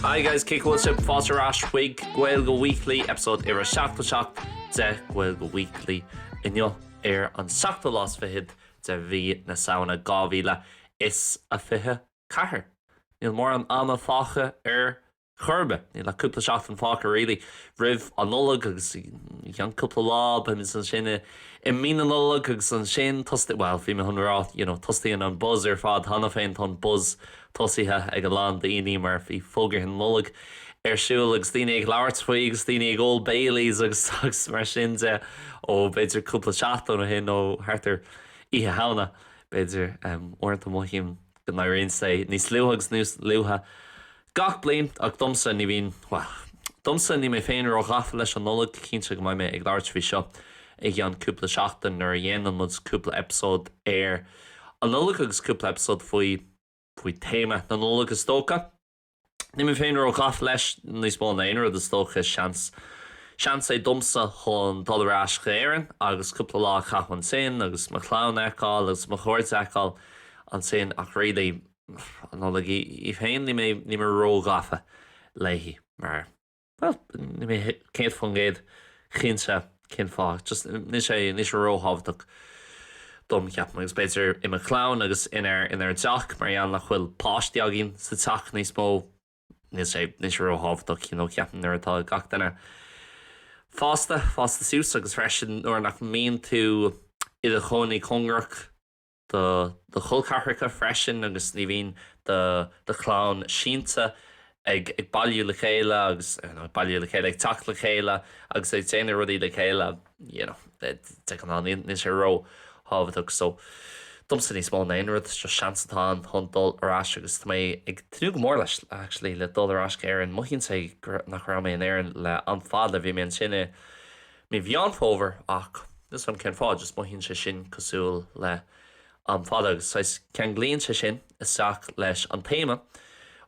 Hi guys, cén chaoi a bhfuil sibh fáilte ar ais chuig Gaeilge Weekly, episode uimhir 77 de Gaeilge Weekly inniu ar an seachtú lá is fichead de mhí na Samhna 2024. Níl mórán ama fágtha ar chor ar bith. Níl ach cúpla seachtain fágtha really roimh an Nollaig agus i gceann cúpla lá beidh muid ansin i mí na Nollag agus ansin tosnaíonn, bhuel bhí mé chun rá you know tosnaíonn an buzz ar fad cheana féin, tá an buzz tosaithe ag a lán daoine mar bhí fógraí na Nollag ar siúl agus daoine ag labhairt faoi agus daoine ag ól Baileys agus agus mar sin de ó b'fhéidir cúpla seachtain ó shin ó thart ar Oíche Shamhna b'fhéidir, uaireanta mothaím. go n-éiríonn sé níos luaithe agus níos luaithe gach bliain ach domsa ní bhíonn, bhuel, domsa níl mé féin ró-ghafa leis an Nollaig, cinnte go mbeidh mé ag labhairt faoi seo i gceann cúpla seachtain nuair a dhéanann muid cúpla eipeasóid ar an Nollaig agus cúpla eipeasóid faoi, faoi théama na Nollag is dócha. Níl mé féin ró-ghafa leis níos mó ná aon rud, is dócha. Seans. Seans é domsa chun dul ar ais go hÉirinn agus cúpla lá a chaitheamh ansin agus mo chlann a fheiceáil agus mo chairde a fheiceáil ansin ach really, an Nollaig í féin, níl mé ró-ghafa léi mar. Bhuel, níl mé céad faoin gcéad cinnte cén fáth, just níl sé, níl sé ró-thábhachtach dom, ceapaim, agus b'fhéidir i mo chlann agus inár, inár dteach, mar gheall nach bhfuil páistí againn sa teach níos mó, níl sé, níl sé ró-thábhachtach, you know, ceapaim nuair atá gach duine fásta, fásta suas agus freisin nuair nach mbíonn tú i do chónaí cóngarach. do do chol ceathracha freisin agus ní bhíonn do do chlann sínte ag bailiú le chéile agus, you know, ag bailiú le chéile, ag teacht le chéile agus ag déanamh rudaí le chéile, you know, de ghnáth níl sé ró thábhachtach so domsa níos mó ná aon rud is just seans atá ann chun dul ar ais agus tá mé ag tnúth go mór leis actually le dul ar ais go hÉirinn, mothaíonn sé gur, nach raibh mé in Éirinn le am fada, bhí mé ansin i. Mí Mheán Fómhair ach níl a fhios agam cén fáth, just mothaíonn sé sin cosúil le am fada agus saghas ceanglaíonn sé sin isteach leis an téama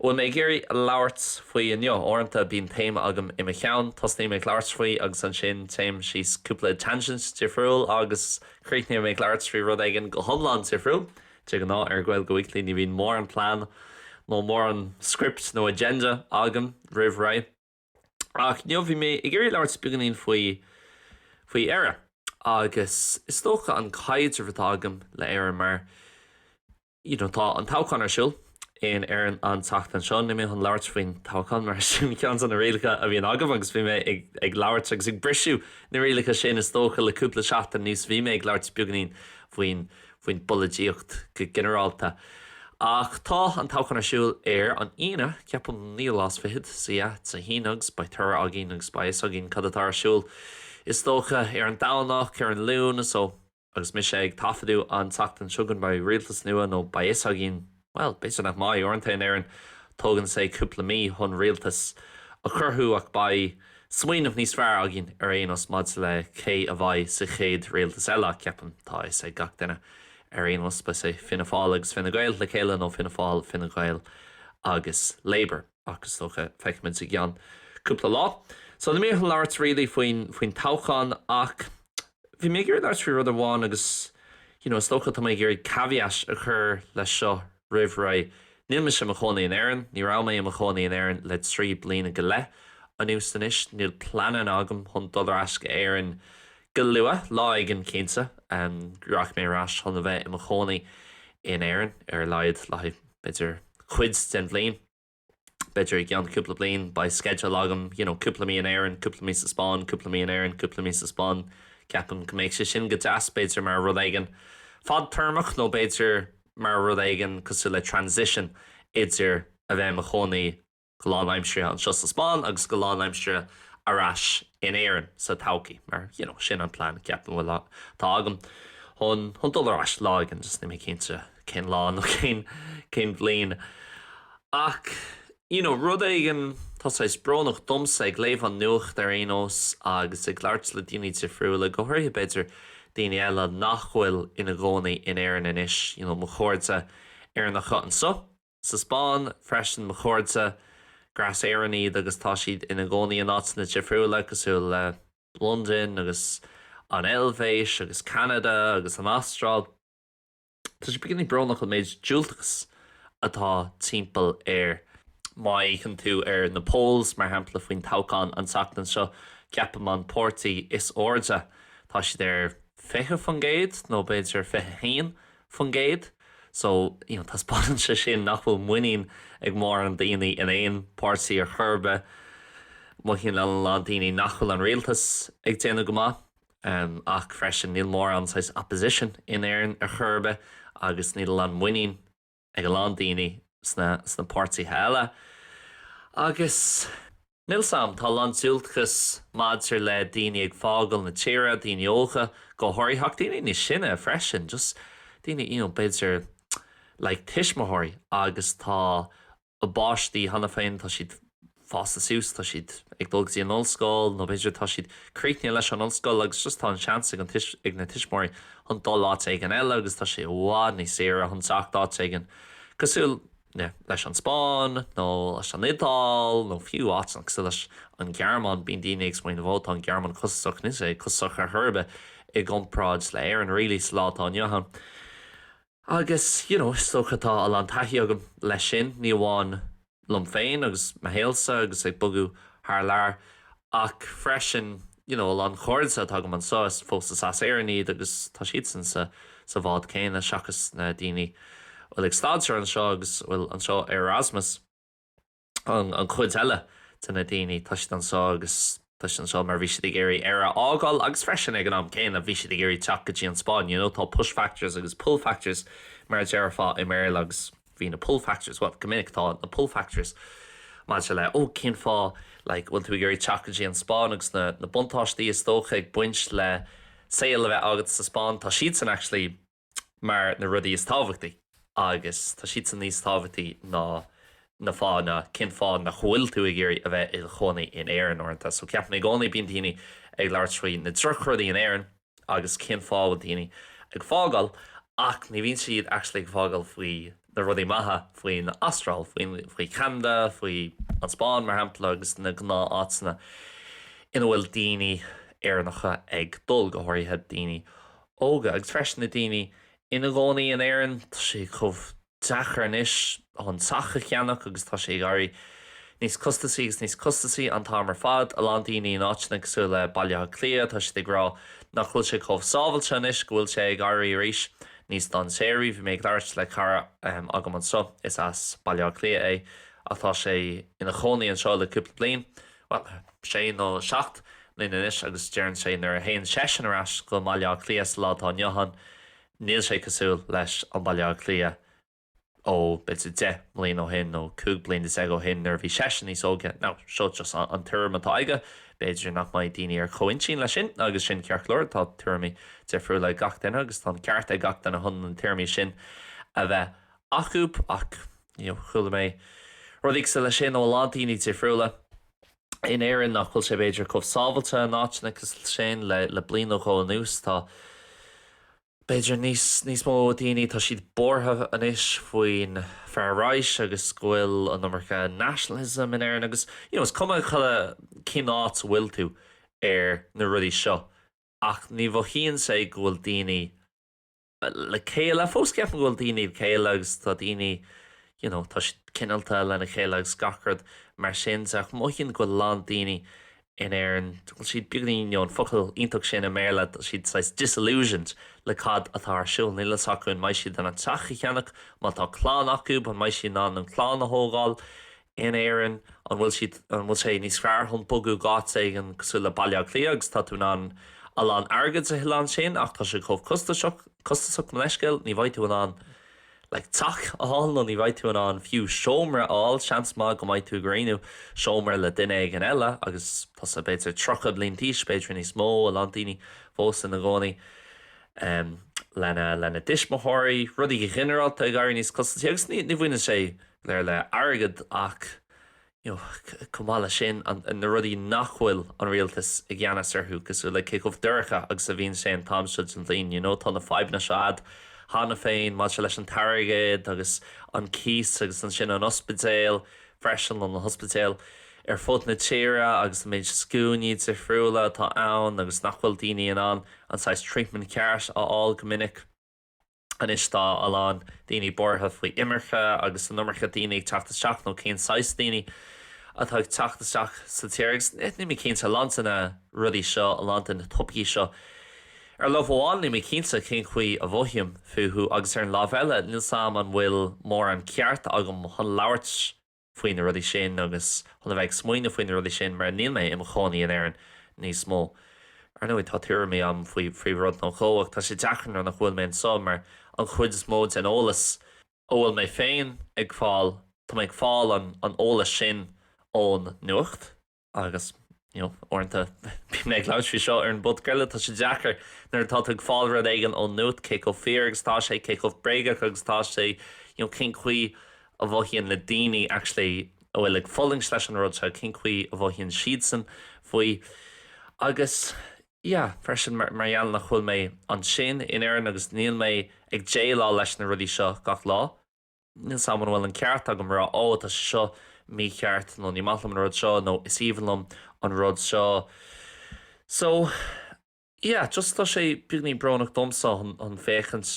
a bhfuil mé ag iarraidh labhairt faoi inniu. Uaireanta bíonn téama agam i mo cheann, tosnaíonn mé ag labhairt faoi agus ansin téim síos cúpla tangent difriúil agus críochnaíonn mé ag labhairt faoi rud éigin go hiomlán difriúil. De ghnáth ar Gaeilge Weekly ní bhíonn mórán plean nó mórán script nó agenda agam roimh ré. Ach inniu bhí mé ag iarraidh labhairt beagáinín faoi, faoi Éire. Agus is dócha an caidreamh atá agam le Éire mar, you know, tá an toghchán ar siúl in Éirinn an tseachtain seo. Níl mé chun labhairt faoin toghchán mar sin ceann de na rialacha a bhíonn agam agus bhí mé ag, ag labhairt agus ag briseadh na rialacha sin is dócha le cúpla seachtain anuas bhí mé ag labhairt beagáinín faoin, faoin bpolaidíocht go ginearálta. Ach tá an toghchán ar siúl ar an Aoine, ceapaim, naoú lá is fichead, so yeah, it's a thing agus beidh toradh againn agus beidh fhios againn cad atá ar siúl, is dócha, ar an Domhnach, ar an Luan, so. Agus mise ag taifeadadh an tseachtain seo go mbeidh rialtas nua nó beidh fhios againn Bhuel, b'fhéidir nach mbeidh. Uaireanta in Éirinn tógann sé cúpla mí chun rialtas a chruthú ach beidh smaoineamh níos fearr againn ar aon nós maidir le cé a bheidh sa chéad rialtas eile, ceapaim. Tá a fhios ag gach duine ar aon nós, beidh sé Fianna Fáil agus Fine Gael le chéile nó Fianna Fáil, Fine Gael agus Labour. Ach is dócha, feicfimid i gceann cúpla lá. So, níl mé ag labhairt really faoin, faoin toghchán ach bhí mé ag iarraidh labhairt faoi rud amháin agus you know is dócha, tá mé ag iarraidh caveat a chur leis seo roimh ré, níl mise i mo chónaí in Éirinn, ní raibh mé i mo chónaí in Éirinn le trí bliana go leith anuas anois, níl pleananna agam chun dul ar ais go Éirinn go luath, lá éigin cinnte, rachaidh mé ar ais chun a bheith i mo chónaí in Éirinn ar a laghad le haghaidh. b'fhéidir cuid den bhliain, b'fhéidir i gceann cúpla bliain beidh sceideal agam, you know cúpla mí in Éirinn, cúpla mí sa Spáinn, cúpla mí in Éirinn, cúpla mí sa Spáinn, ceapaim go mbeadh sé sin go deas, b'fhéidir mar rud éigin fadtéarmach nó b'fhéidir mar rud éigin cosúil le transition idir a bheith i mo chónaí go lánaimseartha anseo sa Spáinn agus go lánaimseartha ar ais in Éirinn sa todhchaí, mar you know sin an plean, ceapaim, bhuel atá agam chun chun dul ar ais lá éigin, just níl mé cinnte cén lá nó cén cén bhliain. Ach you know rud éigin, tá saghas brónach domsa ag léamh an nuacht ar aon nós agus ag labhairt le daoine difriúla, go háirithe b'fhéidir daoine eile nach bhfuil ina gcónaí in Éirinn anois, you know mo chairde Éireannacha anseo. Sa Spáinn freisin mo chairde, gur as Éirinn iad agus tá siad ina gcónaí in áiteanna difriúla cosúil le Londain agus an Eilvéis agus Ceanada agus an Astráil. Tá sé beagáinín brónach an méid diúltachas atá timpeall air. Má fhéachann tú ar na polls, mar shampla, faoin toghchán an tseachtain seo, ceapaim an páirtí is airde, tá siad ar 20% nó b'fhéidir 21. faoin gcéad. So, you know, taispeánann sé sin nach bhfuil muinín ag mórán daoine in aon páirtí ar chor ar bith. Mothaíonn a lán daoine nach bhfuil an rialtas ag déanamh go maith, em, ach freisin níl mórán saghas opposition in Éirinn ar chor ar bith agus níl a lán muinín ag a lán daoine sna, sna páirtithe eile agus. Níl a fhios agam, tá a lán diúltachas maidir le daoine ag fágáil na tíre, daoine óga go háirithe, ach daoine níos sine freisin, just daoine, you know, b'fhéidir like tuismitheoirí agus tá a bpáistí cheana féin, tá siad fásta suas, tá siad ag dul go dtí an ollscoil nó b'fhéidir tá siad críochnaithe leis an ollscoil agus just tá an seans ag an, ag na tuismitheoirí chun dul áit éigin eile agus tá sé i bhfad níos saoire chun teacht áit éigin cosúil, leis an Spáinn, nó leis an Iodáil, nó fiú áiteanna cosúil leis an nGearmáin, bíonn daoine ag smaoineamh 'Ó, tá an Ghearmáin costasach', níl sé costasach ar chor ar bith i gcomparáid le hÉirinn, really, sa lá atá inniu ann. Agus, you know, is dócha tá a lán taithí agam leis sin, ní amháin liom féin agus mo shaolsa agus ag bogadh thar lear, ach freisin, you know a lán cairde atá agam anseo is fósta as Éirinn iad agus tá siadsan sa sa bhád céanna seachas na daoine bhfuil ag staidéar anseo agus bhfuil anseo ar Erasmus an an chuid eile de na daoine tá siad anseo agus tá siad anseo mar bhí siad ag iarraidh Éire a fhágáil agus freisin ag an am céanna bhí siad ag iarraidh teacht go dtí an Spáinn you know tá push factors agus pull factors mar a déarfá i mBéarla agus bhí na pull factors, bhuel, go minic tá na pull factors maidir le, oh, cén fáth, like, bhfuil tú ag iarraidh teacht go dtí an Spáinn agus na, na buntáistí is dócha ag baint le saol a bheith agat sa Spáinn, tá siadsan actually mar na rudaí is tábhachtaí agus tá siadsan níos tábhachtaí ná na fáthanna cén fáth nach bhfuil tú ag iarraidh a bheith i do chónaí in Éirinn uaireanta. So ceapaim i gcónaí bíonn daoine ag labhairt faoi na drochrudaí in Éirinn, Agus cén fáth a bhfuil daoine ag fágáil? Ach ní bhíonn siad actually ag fágáil faoi na rudaí maithe, faoin Astráil, faoi Cheanada, faoi an Spáinn mar shampla agus na gnáth áiteanna ina bhfuil daoine Éireannacha ag dul, go háirithe daoine óga. Agus freisin na daoine ina gcónaí in Éirinn, tá sé chomh deacair anois teach a cheannach agus tá sé ag éirí níos costasaí agus níos costasaí an t-am ar fad. A lán daoine in áiteanna cosúil le Baile Átha Cliath, tá siad ag rá nach bhfuil sé chomh sábhailte anois, go bhfuil sé ag éirí arís níos dainséaraí. Bhí mé ag labhairt le cara agam anseo, is as Baile Átha Cliath é ach tá sé ina chónaí anseo le cúpla bliain, bhuel, sé nó seacht mbliana anois agus deireann sé nuair a théann seisean ar ais go Baile Átha Cliath sa lá atá inniu ann, Níl sé cosúil leis an Baile Átha Cliath ó b'fhéidir deich mbliain ó shin nó cúig bliana déag ó shin nuair a bhí seisean níos óige, nó seo just an tuairim atá aige, b'fhéidir nach mbeidh daoine ar chomh-intinn leis sin agus sin ceart go leor, tá tuairimí difriúla ag gach duine agus tá an ceart ag gach duine chun na tuairimí sin a bheith acu ach, you know, chuala mé rudaí cosúil leis sin ó a lán daoine difriúla. in Éirinn, nach bhfuil sé b'fhéidir chomh sábhailte in áiteanna cosúil leis sin le bliain nó dhó anuas, tá b'fhéidir níos, níos mó daoine, tá siad buartha anois faoin far right agus go bhfuil an iomarca nationalism in Éirinn agus, you know, is cuma, chuile, cén áit a bhfuil tú ar na rudaí seo ach ní mhothaíonn sé go bhfuil daoine, le chéile. Fós ceapaim go bhfuil daoine le chéile agus tá daoine, you know, tá siad cineálta lena chéile agus gach rud mar sin de ach mothaím go bhfuil a lán daoine in Éirinn, bhfuil siad beagáinín, you know, an focal iontach sin i mBéarla, tá siad saghas disillusioned le cad atá ar siúl. Níl a fhios acu an mbeidh siad in ann teach a cheannach, má tá clann acu, an mbeidh siad in ann an chlann a thógáil, in Éirinn? An bhfuil siad, an bhfuil sé níos fearr chun bogadh go áit éigin cosúil le Baile Átha Cliath agus tá tú in ann a lán airgid a thuilleadh ansin ach tá sé chomh costasach, costasach mo leithscéal, ní bheidh tú in ann like teach a fháil nó ní bheidh tú in ann fiú seomra a fháil, seans maith go mbeidh tú ag roinnt seomra le duine éigin eile agus tusa b'fhéidir tríocha bliain d'aois, b'fhéidir níos mó, a lán daoine fós ina gcónaí em lena, lena dtuismitheoirí, rudaí go ginearálta ag éirí níos costasí agus ní, ní bhaineann sé. ar fad le airgead ach you know chomh maith leis sin na rudaí nach bhfuil an rialtas i gceannas orthu cosúil le cé chomh dorcha agus a bhíonn sé an t-am seo den bhliain you know tá na fadhbanna seo a'd cheana féin maidir leis an airgead agus an cíos agus ansin an ospidéal freisin nó na hospidéil ar fud na tíre agus an méid scuainí difriúla atá ann agus nach bhfuil daoine in ann an saghas treatment ceart a fháil go minic. Anois tá a lán daoine buartha faoi imirce agus an iomarca daoine ag teacht isteach nó cén saghas daoine atá ag teacht isteach sa tír agus níl mé cinnte, a lán de na rudaí seo, a lán de na topaicí seo. Ar láimh amháin níl mé cinnte cén chaoi a mhothaím fúthu agus ar an láimh eile níl 's 'am an bhfuil mórán ceart agam chun labhairt faoi na rudaí sin agus chun a bheith ag smaoineamh faoi na rudaí sin mar níl mé i mo chónaí in Éirinn níos mó. Ar ndóigh, tá tuairimí agam faoi rud nó dhó ach tá sé deacair nuair nach bhfuil mé anseo mar an chuid is mó den eolas a bhfuil mé féin ag fáil, tá mé ag fáil an eolas sin ón nuacht. Agus, you know, uaireanta bíonn mé ag labhairt faoi seo ar an bpodc eile, tá sé deacair nuair atá tú ag fáil rud éigin ón nuacht, cé chomh fíor agus atá sé, cé chomh bréagach agus atá sé, you know, cén chaoi a mhothaíonn na daoine actually a bhfuil ag fulaingt leis an rud seo, cén chaoi a mhothaíonn siadsan faoi. Agus, yeah, freisin mar gheall nach bhfuil mé ansin in Éirinn agus níl mé ag déileáil leis na rudaí seo gach lá, Níl 'fhios agam an bhfuil an ceart agam a rá Ó, tá sé seo mícheart nó Ní maith liom an rud seo nó Is aoibhinn liom an rud seo. So, yeah, just tá sé beagnach brónach domsa chun féachaint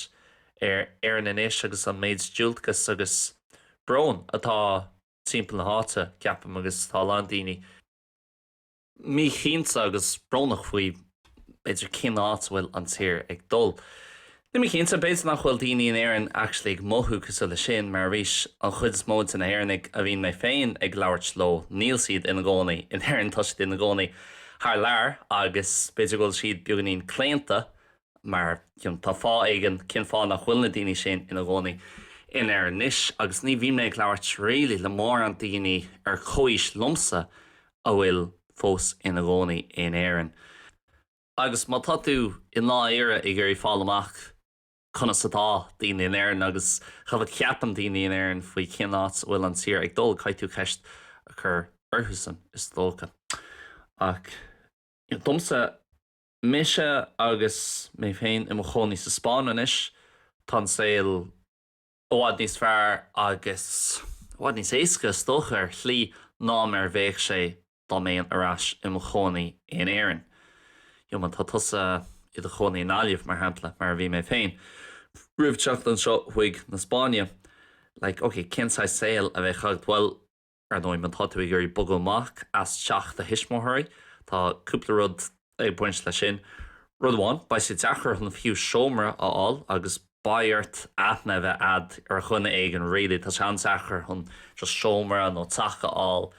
ar Éirinn Anois agus an méid diúltachas agus brón atá timpeall na háite, ceapaim, agus tá a lán daoine, míchinnte agus brónach faoi b'fhéidir cén áit a bhfuil an tír ag dul. Níl mé cinnte, b'fhéidir nach bhfuil daoine in Éirinn actually ag mothú cosúil leis sin mar arís an chuid is mó de na hÉireannaigh a bhíonn mé féin ag labhairt leo níl siad ina gcónaí in Éirinn, tá siad ina gcónaí thar lear agus b'fhéidir go bhfuil siad beagáinín claonta mar 'cause tá fáth éigin cén fáth nach bhfuil na daoine sin ina gcónaí in Éirinn anois, agus ní bhíonn mé ag labhairt really le mórán daoine ar chomhaois liomsa a bhfuil fós ina gcónaí in Éirinn. Agus má tá tú i ndáiríre ag iarraidh fáil amach conas atá daoine in Éirinn agus cad a cheapann daoine in Éirinn faoi cén áit a bhfuil an tír ag dul, caithfidh tú ceist a chur orthusan, is dócha. Ach domsa. Mise agus mé féin i mo chónaí sa Spáinn anois. Tá an saol i bhfad níos fearr agus i bhfad níos éasca, is dócha, ar shlí ná mar a bhéadh sé dá mbéinn ar ais i mo chónaí in Éirinn. You know má tá tusa i do chónaí i nGaillimh, mar shampla, mar a bhí mé féin, roimh teacht anseo chuig na Spáinne. Like, ok, cén saghas saoil a bheadh agat? Bhuel, Ar ndóigh, má tá tú ag iarraidh bogadh amach as teach do thuismitheoirí, tá cúpla rud ag baint leis sin. Rud amháin, beidh sé deacair chun fiú seomra a fháil agus beidh ort aithne a bheith a'd ar dhuine éigin, really, tá sé an-deacair chun just seomra nó teach a fháil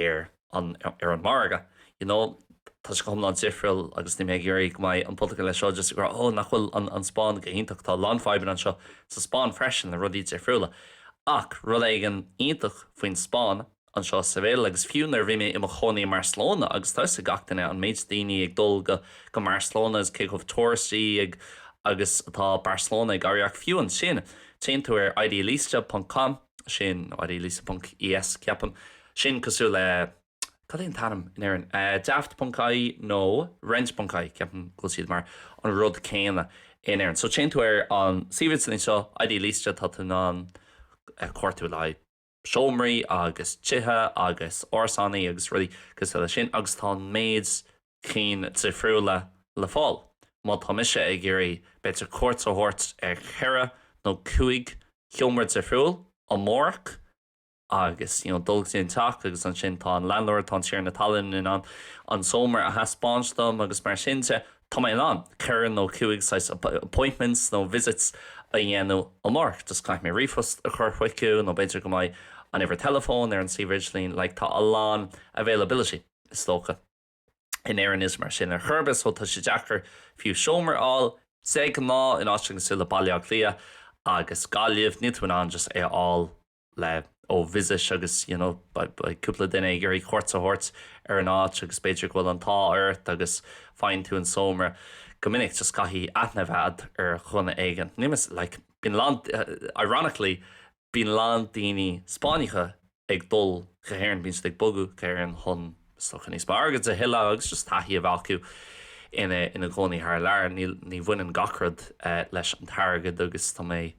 ar an margadh, you know. Tá sé go hiomlán difriúil agus níl mé ag iarraidh go mbeidh an podchraoladh seo just ag rá oh nach bhfuil an Spáinn go hiontach, tá a lán fadhbanna anseo sa Spáinn freisin le rudaí difriúla ach rud éigin iontach faoin Spáinn anseo sa Bhéal agus fiú nuair a bhí mé i mo chónaí i mBarcelona agus tá 'fhios ag gach duine an méid daoine ag dul go mBarcelona agus cé chomh tourist-y agus atá Barcelona ag éirí ach fiú ansin téann tú ar idealista ponc com nó idealista ponc e s ceapaim sin cosúil le cad é an t-ainm in Éirinn? daft ponc ie nó rent ponc ie, ceapaim go bhfuil siad mar an rud céanna in Éirinn. So téann tú ar an suíomh idirlín seo, Idealista, tá tú in ann cuardú le haghaidh seomraí agus tithe agus árasánnaí agus rudaí cosúil leis sin agus tá an méid cinn difriúla le fáil. Má tá mise ag iarraidh b'fhéidir cuairt a thabhairt ar cheithre nó cúig sheomra difriúil amárach, agus you know dul go dtí an teach agus ansin tá an landlord, tá an tiarna talún in ann an seomra a thaispeáint dom agus mar sin de, tá mé in ann ceithre nó cúig saghas appointments nó visits a dhéanamh amárach, just caithfidh mé ríomhphost a chur chuicu nó b'fhéidir go mbeidh an uimhir teileafóin ar an suíomh idirlín, like tá a lán availability is dócha. In Éirinn níl sé mar sin ar chor ar bith so tá sé deacair fiú seomra a fháil, de ghnáth in áiteanna cosúil le Baile Átha Cliath agus Gaillimh níl tú in ann just é a fháil, le ó visit agus you know beidh cúpla duine ag iarraidh cuairt a thabhairt ar an áit agus b'fhéidir go bhfuil an t-ádh ort agus faigheann tú an seomra. Go minic just caithfidh aithne a bheith ar dhuine éigin. Níl mé, like bíonn a lán ironically bíonn a lán daoine Spáinneacha ag dul go hÉirinn, bíonn siad ag bogadh go hÉirinn chun Is dócha níos mó airgid a thuilleamh agus just taithí a bheith acu ina gcónaí thar lear. Níl, ní bhaineann gach rud leis an t-airgead agus tá mé,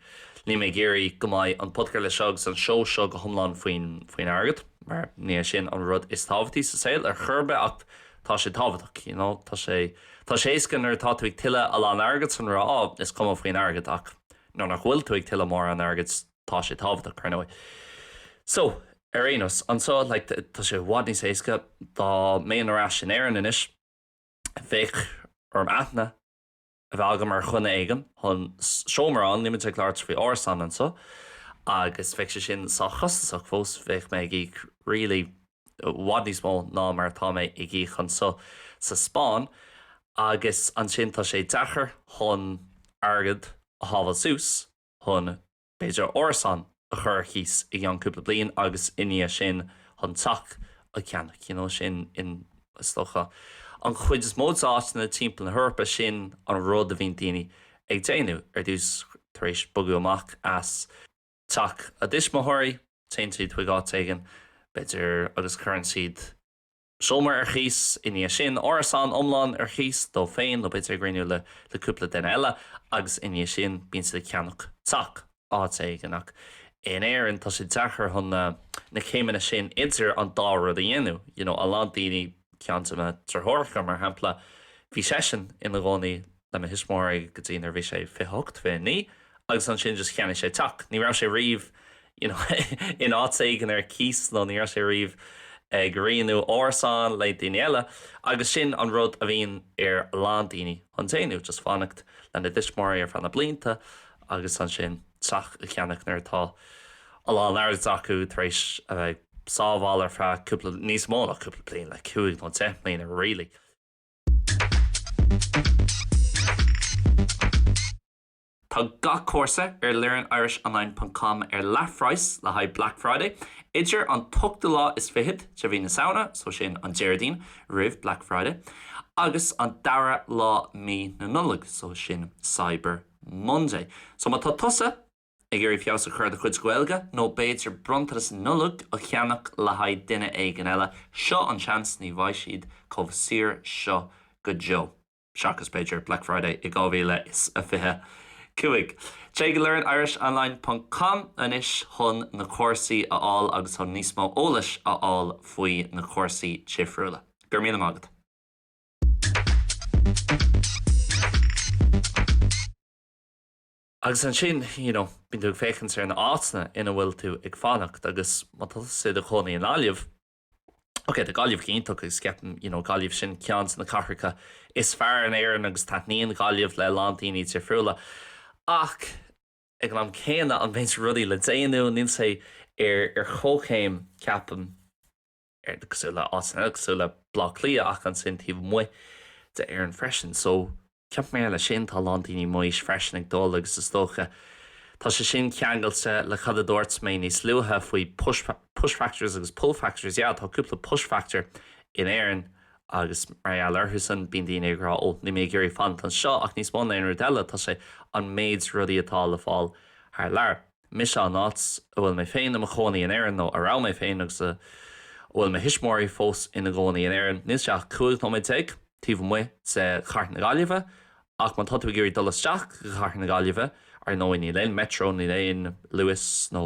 níl mé ag iarraidh go mbeidh an podchraoladh seo agus an seó seo go hiomlán faoin, faoin airgead mar ní hé sin an rud is tábhachtaí sa saol ar chor ar bith ach tá sé tábhachtach, you know. Tá sé, tá sé éasca nuair atá tú ag tuilleamh a lán airgid chun rá, oh, is cuma faoin airgead ach nuair nach bhfuil tú ag tuilleamh mórán airgid, Tá sé tábhachtach, ar ndóigh. So, ar aon nós, anseo, like, tá sé i bhfad níos éasca. Dá mbeinn ar ais in Éirinn anois, bheadh orm aithne a bheith agam ar dhuine éigin chun seomra amháin, níl muid ag labhairt faoi árasán anseo, agus bheadh sé sin sách costasach fós, bheadh mé ag íoc really i bhfad níos mó ná mar atá mé ag íoc anseo sa Spáinn, agus ansin tá sé deacair chun airgead a shábháil suas. chun, b'fhéidir, árasán a chur ar cíos i gceann cúpla bliain agus i ndiaidh sin chun teach a cheannach, you know, sin in, is dócha, an chuid is mó d'áiteanna timpeall na hEorpa, sin an rud a bhíonn daoine ag déanamh. Ar dtús, tar éis bogadh amach as teach a dtuismitheoirí, téann siad chuig áit éigin, b'fhéidir, agus cuireann siad. seomra ar cíos, i ndiaidh sin árasán iomlán ar cíos, dóibh féin nó b'fhéidir ag roinniú le le cúpla duine eile, agus i ndiaidh sin bíonn siad ag ceannach teach áit éigin, ach in Éirinn tá sé deacair chun na na céimeanna sin idir an dá rud a dhéanamh, you know a lán daoine, ceann de mo deartháireacha mar shampla, bhí seisean ina chónaí le mo thuismitheoirí go dtí nuair bhí sé fiche hocht, fiche naoi agus ansin just cheannaigh sé teach. Ní raibh sé riamh you know in áit éigin ar cíos nó ní raibh sé riamh ag roinniú árasán le daoine eile agus sin an rud a bhíonn ar a lán daoine chun déanamh, just fanacht lena dtuismitheoirí ar feadh na blianta agus ansin teach a cheannach nuair atá a lán airgid acu tar éis a bheith sábháil ar feadh cúpla, níos mó ná cúpla bliain like cúig nó deich mbliana really. Tá gach cúrsa ar learnirishonline.com ar leathphraghas le haghaidh Black Friday, idir an t-ochtú lá is fichead de mhí na Samhna, so sin, an Déardaoin roimh Black Friday, agus an dara lá mí na Nollag, so sin, Cyber Monday. So má tá tusa. Ag iarraidh feabhas a chur do chuid Gaeilge? Nó b'fhéidir bronntanas Nollag a cheannach le haghaidh duine éigin eile? Seo an seans, ní bheidh siad chomh saor seo go deo. Seachas, b'fhéidir, Black Friday i 2025. Téigh go learnirishonline ponc com anois chun na cúrsaí a fháil agus chun níos mó eolais a fháil faoi na cúrsaí difriúla. Go raibh míle maith agat! Agus ansin, you know, bíonn tú ag féachaint ar na áiteanna ina bhfuil tú ag fanacht agus má tá tusa i do chónaí i nGaillimh, ok, tá Gaillimh iontach agus ceapaim, you know, Gaillimh sin ceann de na cathracha is fearr in Éirinn agus taitníonn Gaillimh le a lán daoine difriúla ach ag an am céanna, an méid rudaí le déanamh, níl sé ar chomhchéim, ceapaim. ar cosúil le áiteanna cosúil le Bleá Cliath ach ansin taobh amuigh de Éirinn freisin so ceapaim mar gheall air sin tá a lán daoine mise freisin ag dul agus is dócha tá sé sin ceangailte le cad a dúirt mé níos luaithe faoi push push factors agus pull factors yeah tá cúpla push factor in Éirinn agus mar gheall orthusan bíonn daoine ag rá ó níl mé ag iarraidh fanacht anseo ach níos mó na aon rud eile tá sé an méid rudaí atá le fáil thar lear. mise an áit a bhfuil mé féin i mo chónaí in Éirinn, nó a raibh mé féin agus a bhfuil mo thuismitheoirí fós ina gcónaí in Éirinn, níl sé ach 15 nóiméad taobh amuigh de chathair na Gaillimhe. Ach má tá tú ag iarraidh dul isteach go cathair na Gaillimhe, ar ndóigh níl aon Metro, níl aon Luas nó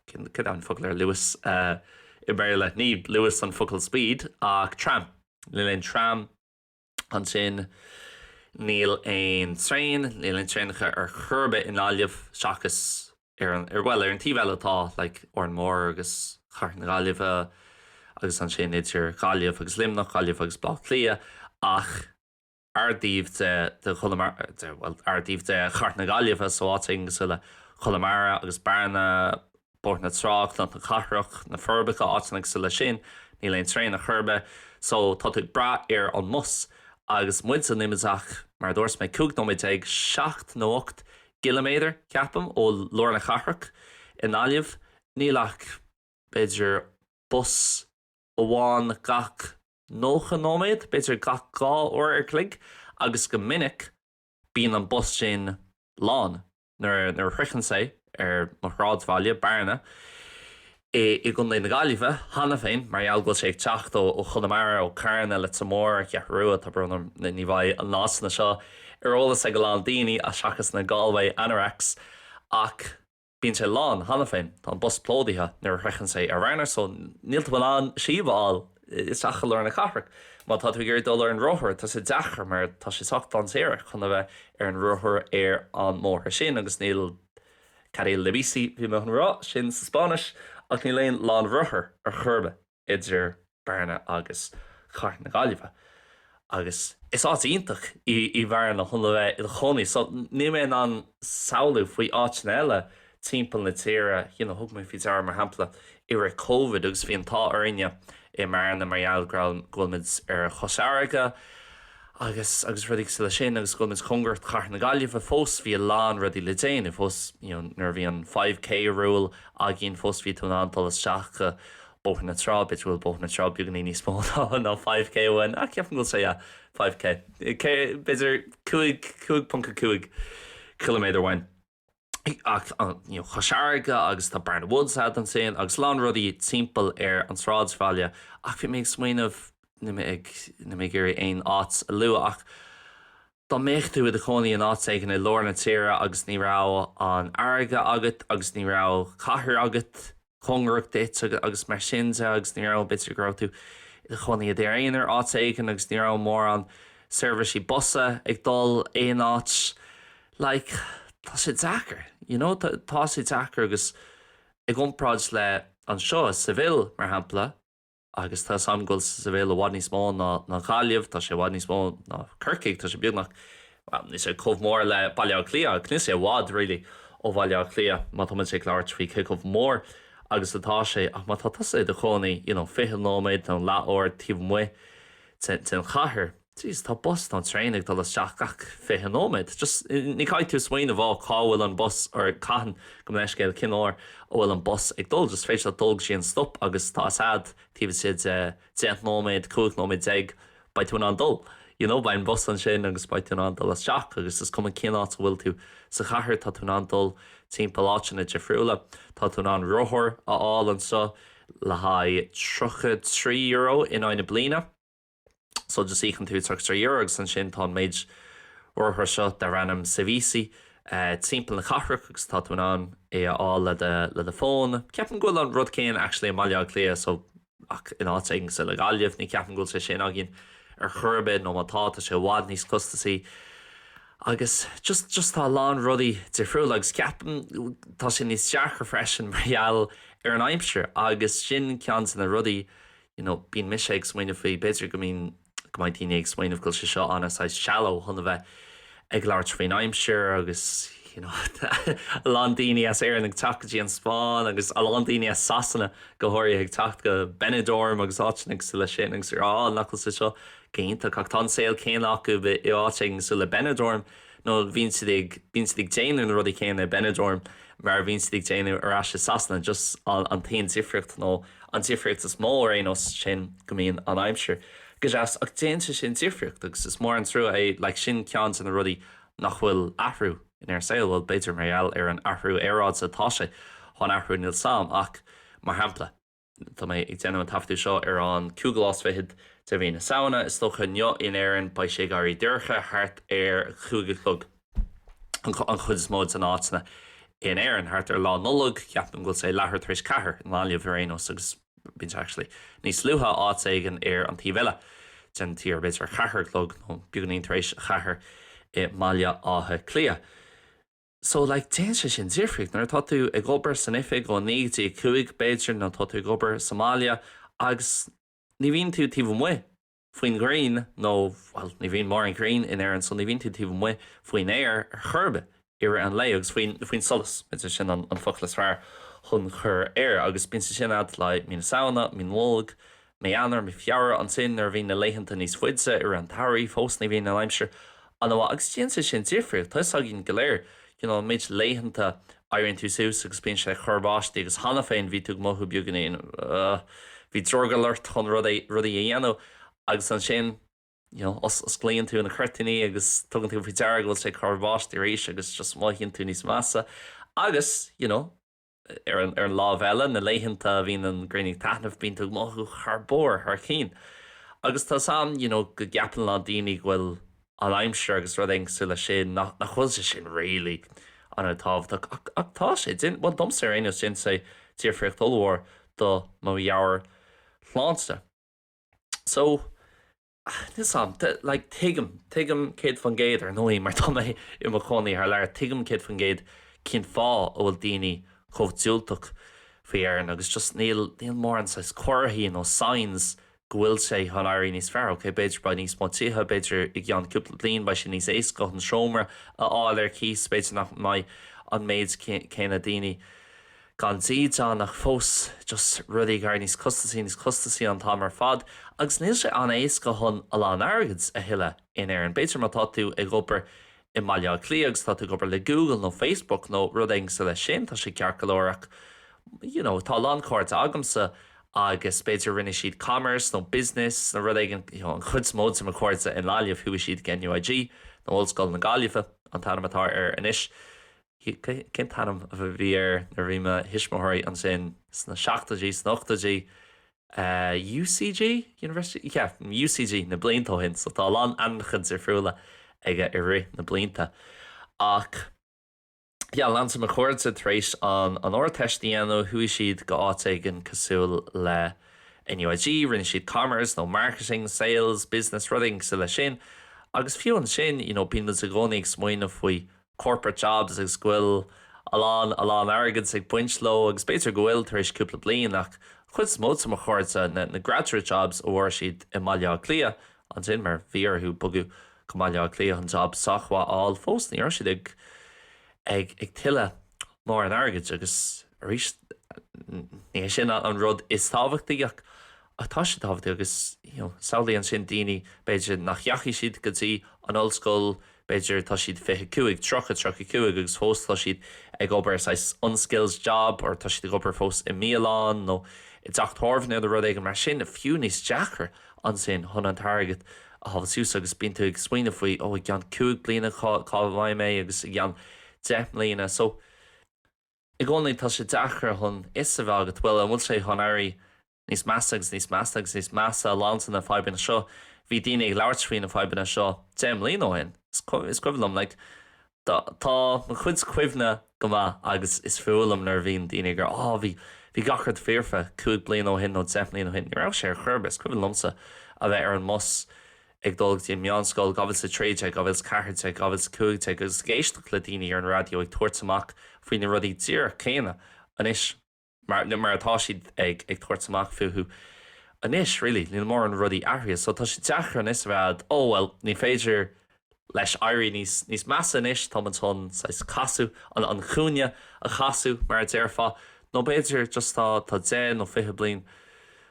céard é an focal ar Luas i mBéarla, ní Luas an focal speed ach tram, níl aon tram, Ansin, níl aon traein, níl aon traenacha ar chor ar bith i nGaillimh seachas ar an, ar, bhuel, ar an taobh eile atá like Órán Mór agus Chathair na Gaillimhe agus ansin idir Gaillimh agus Luimneach, Gaillimh agus Baile Átha Cliath ach ár dtaobh de, de Chonamara, de, bhuel, ár dtaobh de Chathair na Gaillimhe so áiteanna cosúil le Conamara agus Bearna, Bóthar na Trá, Cnoc na Cathrach, Na Forbacha, áiteanna cosúil leis sin, níl aon traein ar chor ar bith, so tá tú ag brath ar an mbus. Agus muidse, níl muid ach, mar a dúirt mé, cúig nóiméad déag, seacht nó ocht gciliméadar, ceapaim, ó lár na cathrach i nGaillimh, níl ach b'fhéidir bus amháin gach nócha nóiméad, b'fhéidir gach dhá uair an chloig, agus go minic bíonn an bus sin lán. Nuair a shroicheann sé mo shráidbhaile, Bearna, i gContae na Gaillimhe, cheana féin, mar gheall go bhfuil sé ag teacht ó Chonamara, ó Charna, Leitir Móir, an Cheathrú Rua, tá brón orm ní bheidh na háiteanna seo ar eolas ag a lán daoine, seachas na Galway Anoraks, ach bíonn sé lán, cheana féin. Tá an bus plódaithe nuair a shroicheann sé ar Bhearna, so níl tú in ann síob a fháil isteach i lár na cathrach. Má tá tú ag iarraidh dul ar an rothar, tá sé deacair mar tá sé sách dainséarach chun a bheith ar an rothar ar an mbóthar sin agus níl carril de bici, bhí mé chun a rá sin sa Spáinnis, ach níl aon lána rothar ar chor ar bith idir Bearna agus cathair na Gaillimhe. Agus is áit iontach í Bearna chun a bheith i do chónaí so níl mé in ann samhlú faoi áiteanna eile timpeall na tíre, you know thug mé faoi deara mar shampla i rith Covid agus bhí an t-ádh orainne i mBearna mar gheall go raibh, go bhfuil muid ar Chois Fharraige agus, agus rudaí cosúil leis sin agus go bhfuil muid cóngarach do chathair na Gaillimhe fós bhí a lán rudaí le déanamh fós, you know nuair a bhí an five K rule againn fós bhí tú in ann dul isteach go Bóthar na Trá, b'fhéidir go bhfuil Bóthar na Trá beagní níos mó ná five K uainn, ach ceapaim go bhfuil sé, yeah, five K, b'fhéidir cúig, cúig ponc a cúig chileaméadar uainn. Ach, you know, Cois Fharraige agus tá Barna Woods ansin agus a lán rudaí timpeall ar an tsráidbhaile ach bhí mé ag smaoineamh, níl mé ag, níl mé ag iarraidh aon áit a lua ach dá mbeadh tú i do chónaí in áit éigin i lár na tíre agus ní raibh an fharraige agat agus ní raibh cathair agat, cóngarach duit agus mar sin de agus ní raibh, b'fhéidir go raibh tú i do chónaí i d'aonar áit éigin agus ní raibh mórán seirbhísí busanna ag dul aon áit like tá sé deacair you know tá sé deacair agus i gcomparáid le anseo i Seville mar shampla, Agus tá a fhios agam go bhfuil Seville i bhfad níos mó ná Gaillimh, tá sé i bhfad níos mó ná Corcaigh, tá sé beagnach, bhuel, níl sé chomh mór le Baile Átha Cliath ach níl sé i bhfad, really, ó Bhaile Átha Cliath má tá muid ag labhairt faoi cé chomh mór agus atá sé. Ach má tá tusa i do chónaí, you know, 20 nóiméad nó leath uair taobh amuigh den chathair, Jeez, tá bus nó traein ag dul isteach gach fiche nóiméad. Just, ní chaithfidh tú smaoineamh, oh, cá bhfuil an bus, or cathain, go mo leithscéal, cén uair a bhfuil an bus ag dul, just féidir leat dul go dtí an stop agus tá a fhios agat taobh istigh de deich nóiméad, cúig nóiméad déag, beidh tú in ann dul. You know, beidh an bus ansin agus beidh tú in ann dul isteach agus is cuma cén áit a bhfuil tú sa chathair, tá tú in ann dul timpeall áiteanna difriúla. Tá tú in ann rothar a fháil anseo le haghaidh tríocha trí euro in aghaidh na bliana. so just íocann tú tríocha trí euro agus ansin tá an méid rothar seo darb ainm Sevici timpeall na cathrach agus tá tú in ann é a fháil le do le do fón. Ceapaim go bhfuil an rud céanna actually i mBaile Átha Cliath so ach in áit éigin cosúil le Gaillimh ní ceapaim go bhfuil sé sin againn ar chor ar bith nó má tá, tá sé i bhfad níos costasaí agus just, just tá a lán rudaí difriúil agus ceapaim tá sé níos deacra freisin mar gheall ar an aimsir agus sin ceann de na rudaí you know bíonn mise ag smaoineamh faoi, b'fhéidir go mbíonn, go mbeidh daoine ag smaoineamh go bhfuil sé seo ana saghas shallow chun a bheith ag labhairt faoin aimsir agus you know a lán daoine as Éirinn ag teacht go dtí an Spáinn agus a lán daoine as Sasana go háirithe ag teacht go Benidorm agus áiteanna cosúil leis sin agus ag rá oh nach bhfuil sé seo go hiontach ach tá an saol céanna acu i áit éigin cosúil le Benidorm nó bíonn siad ag, bíonn siad ag déanamh na rudaí céanna i mBenidorm mar a bhíonn siad ag déanamh ar ais i Sasana, just an, an t-aon difríocht, nó an difríocht is mó ar aon nós, sin go mbíonn an aimsir go deas ach déanann sé sin difríocht agus is mór an trua é, like sin ceann de na rudaí nach bhfuil athrú in ar saol, bhuel b'fhéidir mar gheall ar an athrú aeráide tá sé chun athrú níl 'fhios a'm ach mar shampla. Tá mé ag déanamh an taifeadadh seo ar an cúigiú lá is fichead de mhí na Samhna. Is dócha inniu in Éirinn beidh sé ag éirí dorcha thart ar a cúig a chlog an chuid is mó de na háiteanna in Éirinn. Thart ar Lá Nollag ceapaim go bhfuil sé leathuair tar éis ceathair i nGaillimh ar aon nós agus bíonn sé actually níos luaithe áit éigin ar an taobh eile den tír, b'fhéidir a ceathair a chlog nó beagainín tar éis a ceathair i mBaile Átha Cliath. So, like, déanann sé sin difríocht nuair atá tú ag obair san oifig ó naoi go dtí a cúig, b'fhéidir, nó tá tú ag obair sa mbaile agus ní bhíonn tú taobh amuigh faoin ghrian nó, bhuel, ní bhíonn mórán grian in Éirinn so ní bhíonn tú taobh amuigh faoin aer ar chor ar bith i rith an lae agus faoin, faoin solas, b'fhéidir, sin an focal is fearr chun cur air agus bíonn sé sin a'd, like, mí na Samhna, mí na Nollag, Mí Eanáir, Mí Feabhra, ansin nuair a bhíonn na laethanta níos faide i rith an tsamhraidh fós ní bhíonn an aimsir an-mhaith agus déanann sé sin difríocht tá 'fhios againn go léir you know an méid laethanta éiríonn tú suas agus bíonn sé ag cur báistí agus cheana féin bhí tú ag mothú beagainín you know bhí drogall ort chun rud éigh rudaí a dhéanamh agus ansin you know os osclaíonn tú na cuirtíní agus tugann tú faoi deara go bhfuil sé ag cur báistí arís agus just mothaíonn tú níos measa agus you know. Ar an láimh eile, na laethanta a bhíonn an ghrian ag taithneamh, bíonn tú ag mothú thar barr, thar cinn. Agus tá's a'm you know go gceapann a lán daoine go bhfuil an aimsir agus rud éigin cosúil leis sin, nach nach bhfuil sé sin really ana-thábhachtach ach ach tá sé. Déan, bhuel domsa ar aon nós déanann sé difríocht ollmhór do mo mheabhairshláinte. So. Tuigim, like, tuigim, tuigim céad faoin gcéad, ar ndóigh, mar tá mé i mo chónaí thar lear, tuigim céad faoin gcéad cén fáth a bhfuil daoine chomh diúltach faoi Éirinn agus just níl, níl mórán saghas comharthaí nó signs go bhfuil sé chun éirí níos fearr, ok, b'fhéidir beidh níos mó tithe, b'fhéidir i gceann cúpla bliain beidh sé níos éasca chun seomra a fháil ar cíos, b'fhéidir nach mbeidh an méid céanna daoine. gan dídean ach fós just rudaí ag éirí níos costasaí, níos costasaí an t-am ar fad agus níl sé an-éasca chun a lán airgid a thuilleamh in Éirinn. B'fhéidir má tá tú ag obair i mBaile Átha Cliath agus tá tú ag obair le Google nó Facebook nó rud éigin cosúil leis sin tá sé ceart go leor ach you know tá a lán cairde agamsa agus b'fhéidir rinne siad commerce nó business nó rud éigin you know an chuid is mó de mo chairde i nGaillimh chuaigh siad go NUIG nó Ollscoil na Gaillimhe an t-ainm atá air anois. Cén t-ainm a bhí air nuair a bhí mo thuismitheoirí ansin sna seachtóidí, sna hochtóidí? UCG? University? Yeah, UCG, na blianta ó shin, so tá a lán ainmneacha difriúla aige i rith na blianta. Ach, yeah, a lán de mo chairde-sa tar éis an an Ardteist a dhéanamh, chuaigh siad go áit éigin cosúil le NUIG, rinne siad Commerce nó Marketing, Sales, Business, rud éigin cosúil le sin. Agus fiú ansin, you know, bíonn muid i gcónaí ag smaoineamh faoi corporate jobs agus go bhfuil a lán, a lán airgid ag baint leo agus b'fhéidir go bhfuil tar éis cúpla bliain ach an chuid is mó de mo chairde, na, na graduate jobs a fuair siad i mBaile Átha Cliath, ansin mar bhí orthu bogadh go Baile Átha Cliath chun job sách mhaith a fháil fós, ní raibh siad ag, ag, ag tuilleamh mórán airgid agus arís ní hé sin an rud is tábhachtaí ach, ach tá sé tábhachtach agus, you know, samhlaigh ansin daoine b'fhéidir nach ndeachaigh siad go dtí an ollscoil, b'fhéidir, tá siad fiche cúig, tríocha, tríocha cúig agus fós tá siad ag obair saghas unskilled job or tá siad ag obair fós i mbialann nó i dteach tábhairne nó rud éigin mar sin, fiú níos deacra ansin chun an t-airgead a shábháil suas agus bíonn tú ag smaoineamh faoi, oh, i gceann cúig bliana cá, cá mbeidh mé agus i gceann deich mbliana so i gcónaí tá sé deacair chun a fhios a bheith agat, bhuel, an bhfuil sé chun éirí Níos measa agus níos measa agus níos measa má leanann na fadhbanna seo. Bhí daoine ag labhairt faoi na fadhbanna seo deich mbliana ó shin. Is cuimhin liom, like, tá mo chuid cuimhní go maith agus is fuath liom nuair a bhíonn daoine ag rá, á, bhí, bhí gach rud foirfe cúig bliana ó shin nó deich mbliana ó shin. Ní raibh sé ar chor ar bith. Is cuimhin liomsa a bheith ar an mbus ag dul go dtí an mheánscoil, 2013, 2014, 2015 agus ag éisteacht le daoine ar an raidió ag tabhairt amach faoi na rudaí díreach céanna anois. mar, nó mar atá siad ag tabhairt amach fúthu anois, really, níl mórán rudaí athraithe, so tá sé deacair anois a rá, oh, well, ní féidir leis éirí níos, níos measa nó anois, tá muid chun, saghas, casadh, an, an cúinne a chasadh, mar a déarfá, nó b'fhéidir, just tá, tá deich nó fiche bliain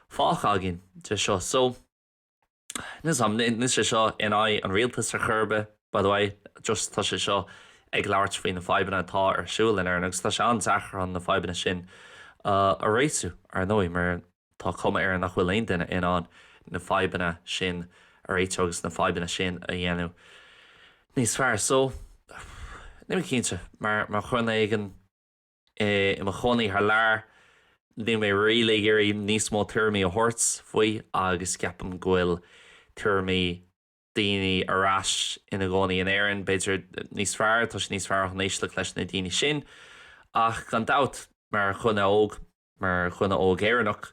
fágtha againn de seo, so. Anois, níl sé seo in aghaidh an rialtais ar chor ar bith, by the way, just tá sé seo ag labhairt faoi na fadhbanna atá ar siúl in Éirinn agus tá sé an-deacair chun na fadhbanna sin a réitiú, ar ndóigh, mar tá cuma ar nach bhfuil aon duine in ann na fadhbanna sin a réitiú agus na fadhbanna sin a dhéanamh níos fearr. So, níl mé cinnte, mar dhuine éigin. i mo chónaí thar lear, níl mé really ag iarraidh níos mó tuairimí a thabhairt faoi agus ceapaim go bhfuil tuairimí daoine atá fós ina gcónaí in Éirinn, b'fhéidir, níos fearr, tá sé níos fearr chun éisteacht leis na daoine sin ach gan dabht, mar dhuine óg, mar dhuine óg Éireannach,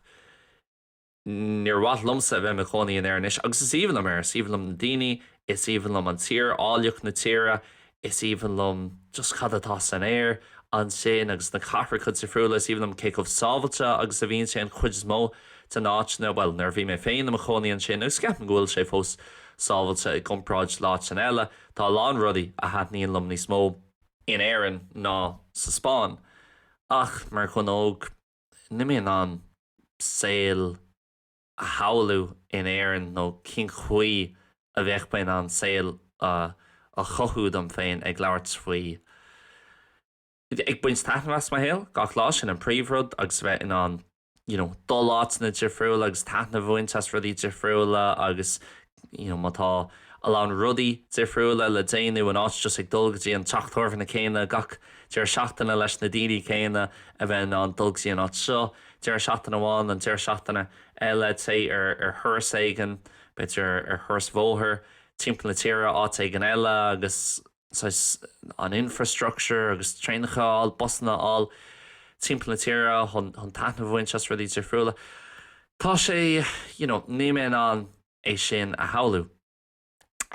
Níor mhaith liomsa a bheith i mo chónaí in Éirinn anois agus is aoibhinn liom Éire, is aoibhinn liom na daoine, is aoibhinn liom an tír, áilleacht na tíre, is aoibhinn liom just cad atá san aer ansin agus na cathracha difriúla, is aoibhinn liom cé chomh sábháilte agus a bhíonn sé an chuid is mó de na áiteanna, bhuel, nuair a bhí mé féin i mo chónaí ansin agus ceapaim go bhfuil sé fós sábháilte i gcomparáid le háiteanna eile, tá a lán rudaí a thaitníonn liom níos mó in Éirinn ná sa Spáinn ach mar dhuine óg, Níl mé in ann saol a shamhlú in Éirinn nó cén chaoi a bheadh mé in ann saol a chothú dom féin ag labhairt faoi, ag baint taitnimh as mo shaol gach lá, sin an príomhrud, agus bheith in ann, you know, dul áiteanna difriúla agus taitneamh a bhaint as rudaí difriúla agus má tá a lán rudaí difriúla le déanamh in áit just ag dul go dtí an teach tábhairne céanna gach deireadh seachtaine leis na daoine céanna a bheith in ann dul go dtí an áit seo deireadh seachtaine amháin an deireadh seachtaine eile téigh ar thuras éigin b'fhéidir ar thuras bhóthair timpeall na tíre áit éigin eile agus saghas, an infrastructure agus traenacha a fháil, busanna a fháil timpeall na tíre chun taitneamh a bhaint as rudaí difriúla. Tá sé, you know, níl mé in ann é sin a shamhlú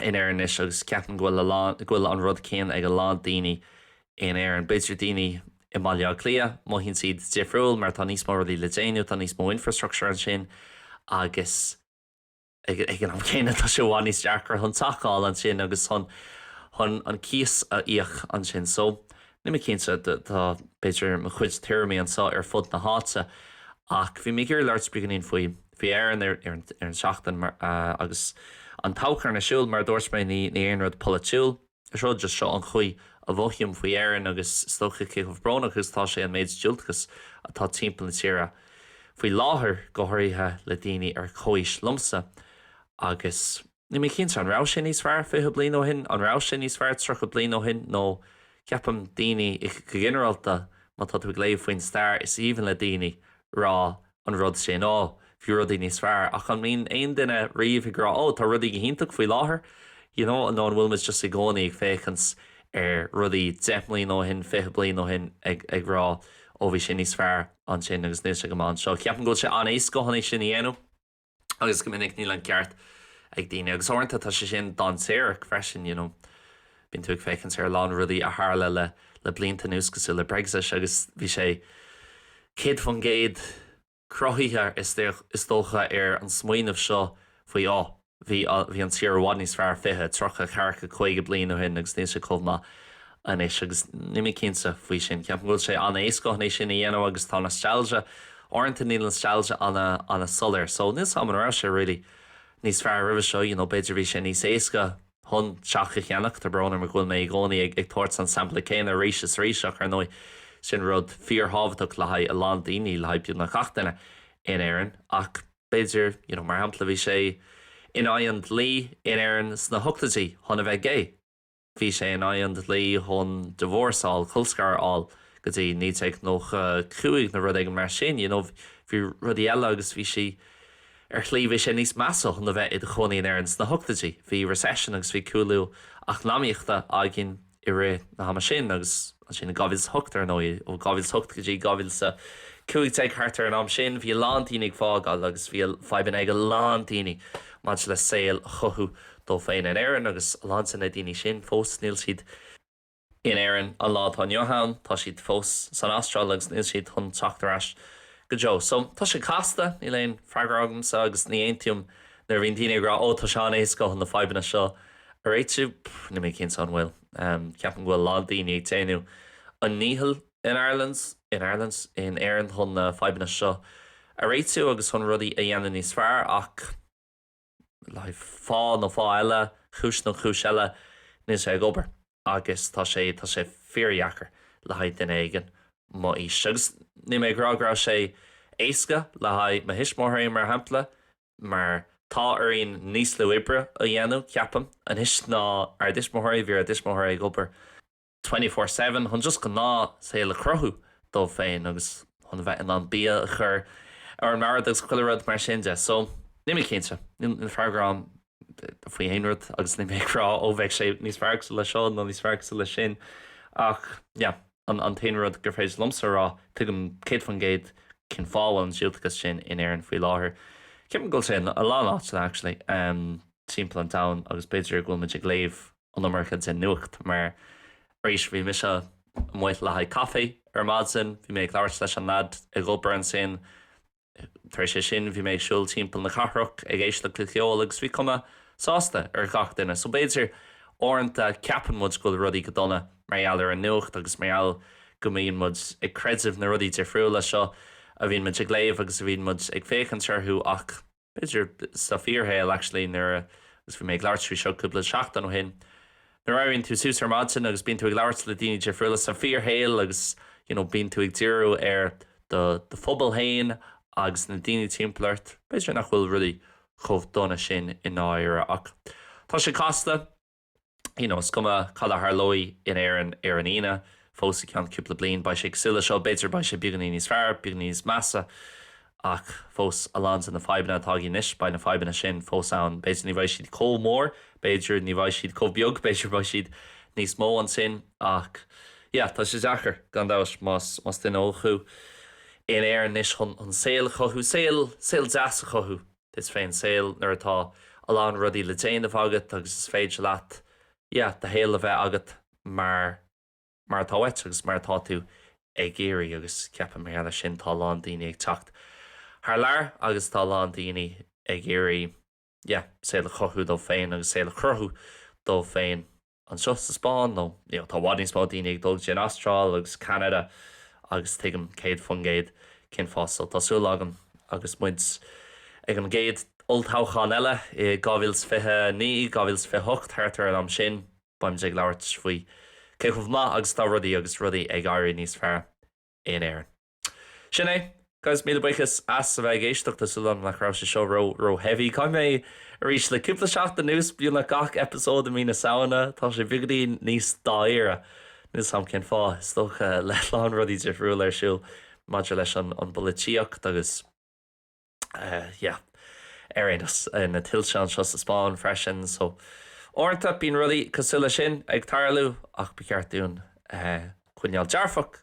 in Éirinn anois agus ceapaim go bhfuil an rud céanna ag a lán daoine in Éirinn. B'fhéidir daoine i mBaile Átha Cliath, mothaíonn siad difriúil mar tá níos mó rudaí le déanamh, tá níos mó infrastructure ansin agus. Ag an am céanna, tá sé i bhfad níos deacra chun teach a fháil ansin agus chun an cíos a íoc ansin. So, níl mé cinnte, tá b'fhéidir mo chuid tuairimí anseo ar fud na háite ach bhí mé ag iarraidh labhairt beagáinín faoi. Mhothaigh Éireann an tseachtain agus an toghchán ar siúl, mar a dúirt mé, ní haon rud polaitiúil. Is rud just, seo an chaoi a mhothaím faoi Éirinn agus is dócha cé chomh brónach agus atá sé an méid diúltachais atá timpeall na tíre faoi láthair, go háirithe le daoine ar comhaois liomsa. Agus níl mé cinnte, an raibh sé níos fearr fiche bliain ó shin? An raibh sé níos fearr tríocha bliain ó shin? Nó ceapaim, daoine, go ginearálta, má tá tú ag léamh faoin stair, is aoibhinn le daoine rá an rud sin, like, ó, bhí rudaí níos fearr ach an mbíonn aon duine riamh ag rá, ó, tá rudaí go hiontach faoi láthair, you know, nó an bhfuil muid just i gcónaí ag féachaint ar rudaí deich mbliana ó shin, fiche bliain ó shin ag, ag rá, ó, bhí sé níos fearr ansin agus níl sé go maith anseo. Ceapaim go bhfuil sé an-éasca chun é sin a dhéanamh. agus go minic níl an ceart ag daoine agus uaireanta tá sé sin dainséarach freisin, you know bíonn tú ag féachaint ar a lán rudaí a tharla le blianta anuas cosúil le Brexit agus bhí sé sin 100% cruthaithe is dócha ar an smaoineamh seo faoi 'Ó bhí an tír i bhfad níos fearr 20, 30, 40, 50 bliain ó shin agus níl sé chomh maith anois agus níl mé cinnte faoi sin. Ceapaim go bhfuil sé an-éasca chun é sin a dhéanamh agus tá nostalgia, uaireanta níl nostalgia an-soiléir so níl 's a'm an raibh sé really níos fearr roimhe seo, you know b'fhéidir bhí sé níos éasca chun teach a cheannach, tá brón orm go bhfuil mé i gcónaí ag ag tabhairt an sampla céanna arís is arís ach ar ndóigh sin rud fíor-thábhachtach le haghaidh a lán daoine, le haghaidh beagnach gach duine in Éirinn ach b'fhéidir you know mar shampla bhí sé in aghaidh an dlí in Éirinn sna hochtaidí chun a bheith gay. Bhí sé in aghaidh an dlí chun divorce a fháil, colscaradh a fháil, go dtí 1995 nó rud éigin mar sin, you know, bhí rudaí eile agus bhí sí, ar shlí bhí sé níos measa chun a bheith i do chónaí in Éirinn sna hochtaidí, bhí recession agus bhí cúlú eacnamaíochta againn i rith na hama sin agus ansin in 2008 ar ndóigh, ó 2008 go dtí 2015 thart ar an am sin bhí a lán daoine ag fágáil agus bhí fadhbanna ag a lán daoine maidir le saol a chothú dó féin in Éirinn agus a lán de na daoine sin fós níl siad in Éirinn an lá atá inniu ann, tá siad fós san Astráil agus níl siad chun teacht ar ais go deo. So, tá sé casta, níl aon freagra agamsa agus ní aontaím nuair a bhíonn daoine ag rá oh tá sé an-éasca chun na fadhbanna seo a réitiú, pff níl mé cinnte an bhfuil, ceapaim go bhfuil a lán daoine ag déanamh a ndícheall in Ireland, in Ireland? in Éirinn chun na fadhbanna seo a réitiú agus chun rudaí a dhéanamh níos fearr ach. le haghaidh fáth nó fáth eile, cúis nó cúis eile, níl sé ag obair agus tá sé, tá sé fíordheacair le haghaidh duine éigin mo aois. Agus níl mé ag rá go raibh sé éasca le haghaidh mo thuismitheoirí, mar shampla, mar tá orainn níos lú oibre a dhéanamh, ceapaim, anois ná ár dtuismitheoirí, bhí ár dtuismitheoirí ag obair, twenty-four seven chun just gnáthshaol a chruthú dóibh féin agus chun a bheith in ann bia a chur ar an mbord agus chuile rud mar sin de. So, níl mé cinnte. Níl freagra a'm faoi aon rud agus níl mé ag rá ó bheidh sé níos fearr cosúil le seo nó níos fearr cosúil le sin ach yeah, an t-aon rud gur féidir liomsa a rá, tuigim céad faoin gcéad cén fáth a bhfuil an diúltachas sin in Éirinn faoi láthair. Ceapaim go bhfuil sé in a lán áiteanna actually, em timpeall an domhain agus b'fhéidir go bhfuil muid ag léamh an iomarca den nuacht mar, arís, bhí mise amuigh le haghaidh caife ar maidin, bhí mé ag labhairt leis an leaid ag obair ansin, tar éis é sin bhí mé ag siúl timpeall na cathrach ag éisteacht le ceol agus bhí cuma sásta ar gach duine. So b'fhéidir, uaireanta ceapann muid go bhfuil rudaí go dona mar gheall ar an nuacht agus mar gheall go mbíonn muid ag creideamh na rudaí difriúla seo a bhíonn muid ag léamh agus a bhíonn muid ag féachaint orthu ach b'fhéidir sa bhfíorshaol actually, nuair a, agus bhí mé ag labhairt faoi seo cúpla seachtain ó shin, nuair a éiríonn tú suas ar maidin agus bíonn tú ag labhairt le daoine difriúla sa bhfíorshaol agus you know bíonn tú ag díriú ar do do phobal féin agus na daoine timpeall ort, b'fhéidir nach bhfuil rudaí chomh dona sin i ndáiríre ach tá sé casta. you know, is cuma cad a tharlóidh in Éirinn ar an Aoine, fós i gceann cúpla bliain, beidh sé cosúil le seo, b'fhéidir beidh sé beagáinín níos fearr, beagáinín níos measa, ach fós, a lán de na fadhbanna atá againn anois, beidh na fadhbanna sin fós ann, b'fhéidir ní bheidh siad chomh mór, b'fhéidir ní bheidh siad chomh beag, b'fhéidir beidh siad níos mó ansin, ach yeah, tá sé deacair, gan dabht, más, más duine óg thú in Éirinn anois chun, chun saol a chothú, saol, saol deas a chothú. duit féin, saol nuair atá a lán rudaí le déanamh agat agus is féidir leat yeah do shaol a bheith agat mar mar atá uait agus mar atá tú ag iarraidh agus ceapaim mar gheall ar sin tá a lán daoine ag teacht thar lear agus tá a lán daoine ag iarraidh yeah saol a chothú dóibh féin agus saol a chruthú dóibh féin. anseo sa Spáinn nó tá i bhfad níos mó daoine ag dul go dtí an Astráil agus Ceanada agus tuigim 100% cén fáth. So tá súil agam agus muid ag an gcéad olltoghchán eile i 2029, 2028, thart ar an am sin, beimid ag labhairt faoi cé chomh maith agus atá rudaí agus rudaí ag éirí níos fearr in Éirinn. Sin é. Guys, míle buíochas as a bheith ag éisteacht, tá súil agam nach raibh sé seo ró ró heavy. Caithfidh mé arís le cúpla seachtain anuas, beagnach gach eipeasóid i mí na Samhna, tá sé beagáinín níos dáiríre, níl a fhios agam cén fáth, is dócha le lán rudaí difriúla ar siúl maidir leis an an bpolaitíocht agus yeah ar aon nós na tuilte anseo sa Spáinn freisin so uaireanta bíonn rudaí cosúil leis sin ag tarlú ach ba cheart dúinn coinneáil dearfach